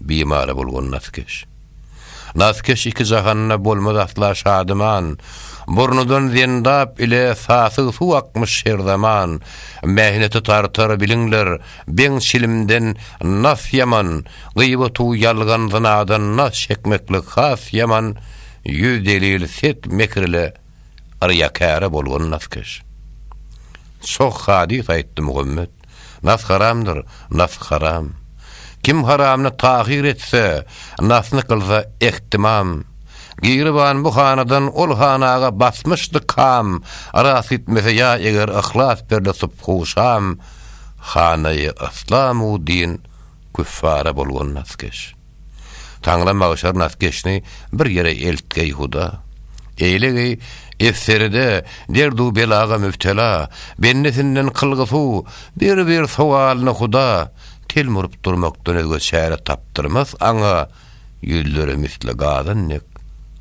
bimary bolgun naskeş. Naskeş iki jahanda bolmaz asla şadyman, Burnudan zendap ile sasyg suw akmyş her zaman, Mähneti tartar biliňler, beň çilimden nas ýaman, Gyýbatu ýalgan zynadan nas çekmeklik has ýaman, Ýüz delil set mekir ile, Yrýakäre bolgun naskeş. Çoh hadys aýtdy Muhammet, Nas haramdyr, nas haram. Kim haramyny tahyr etse, nasyny kylsa ehtimam. Giriban bu hanadan ol hanaga basmyşdy kam, Rast gitmese ýa eger yhlas berle subhu şam, Hanaýy yslam u din küffara bolgun naskeş. Taňra magşar naskeşni bir ýere eltgeý, Huda! Eýlegeý, Esseride derdu belaga mübtela bendesinden kylgysu bir-bir sowalyny, Huda! Tel murup durmakdan özge çäre tapdyrmas aňa ýüzleri misli gazan dek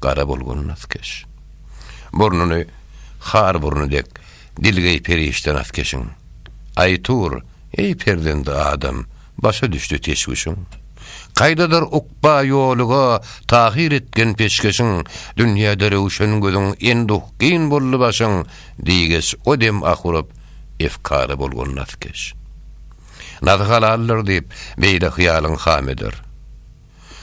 gara bolgun naskeş. Burnuny har burny dek dilgeý perişde naskeşiň. Aý tur, eý perzendi adam! Başa düşdi teşwüşiň. Kaýdadyr ukba ýoluga tahyr etgen peşgeşiň, Dünýäde röwşen gözüň enduh gyn boldy başyň diýgeç O dem ah urup, efkara bolgun nazkeş. Nazy halaldyr diýip, beýle hyýalyň ham eder.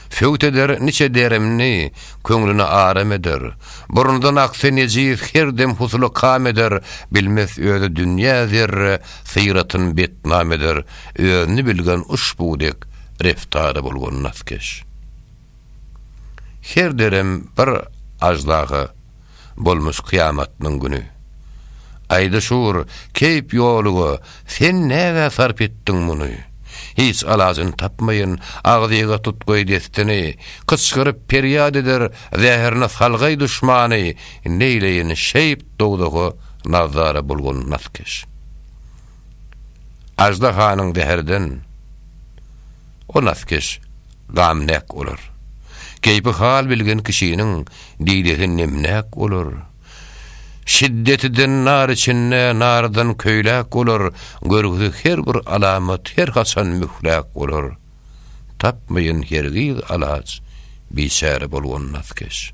Söwt eder niçe deremni, Köňlüne aram eder. Burundan aksy nejiz Her dem husuly kam eder, Bilmes özi dünýä zerre, Syratyn betnam eder. Özüni bilgen uşbu dek, Reftary bolgan naskeş. Her derem bir aždaha. Bolmyş kyýamatynyň güni. Aýdy şur, keýp ýoluga, Sen nägä sarp etdiň muny? Hiç alajyny tapmaýyn, Agzyga tutgaý destini, Kyçgyryp perýat eder, Zäherine salgaý duşmany, Neýleýin şeýp dowzaha Nazara bulgun naskeş. Aždahanyň zäherden O naskeş gamläk olar. Keýpi hal bilgen kişiniň didesi nemläk bolar. Şiddetiden nar içinde nardan köýläk bolar, görgüsi her bir alamat her haçan mühläk bolar. Tapmaýan hergiz alaç biçäre bolgon naskeş.